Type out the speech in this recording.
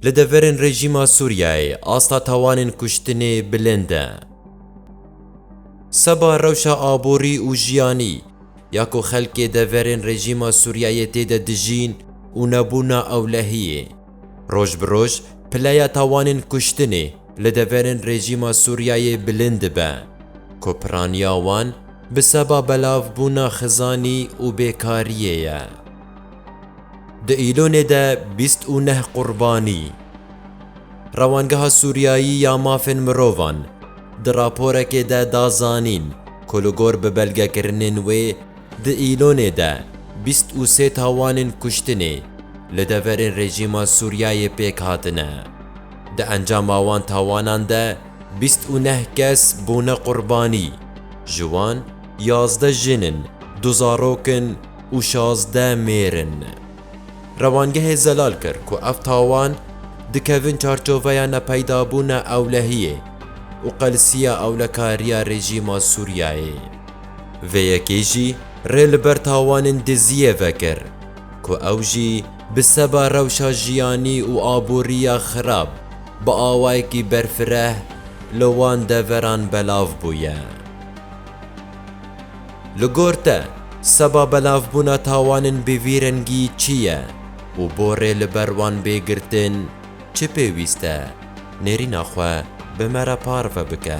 Li deverên rejîma Sûriyeyê asta tawanên kuştinê bilind e. Seba rewşa aborî û jiyanî ya ku xelkê deverên rejîma Sûriyeyê tê de dijîn û nebûna ewlehiyê, roj bi roj pileya tawanên kuştinê li deverên rejîma Sûriyeyê bilind dibe ku piraniya wan bi seba belavbûna xizanî û bêkariyê ye. Di Îlonê de bîst û neh qurbanî. Rewangeha Sûriyayî ya Mafên Mirovan di raporekê de da zanîn ku li gor bi belgekirinên wê di Îlonê de bîst û sê tawanên kuştinê li deverên rejîma Sûriyayê pêk hatine. Di encama wan tawanan de bîst û neh kes bûne qurbanî, ji wan yazdeh jin in, du zarok in, û şazdeh mêr in. Rewangehê zelal kir ku ev tawan dikevin çarçoveya nepeydabûna ewlehiyê û qelisiya ewlekariya rejîma Sûriyeyê. Vê yekê jî rê li ber tawanên diziyê vekir ku ew jî bi seba rewşa jiyanî û aboriya xirab bi awayekî berfireh li wan deveran belav bûye. Li gor te, seba belavbûna tawanin bi vî rengiyî çi ye û bo rê li ber wan bê girtin? Çi pêwîst e nêrîna xwe bi me re parve bike?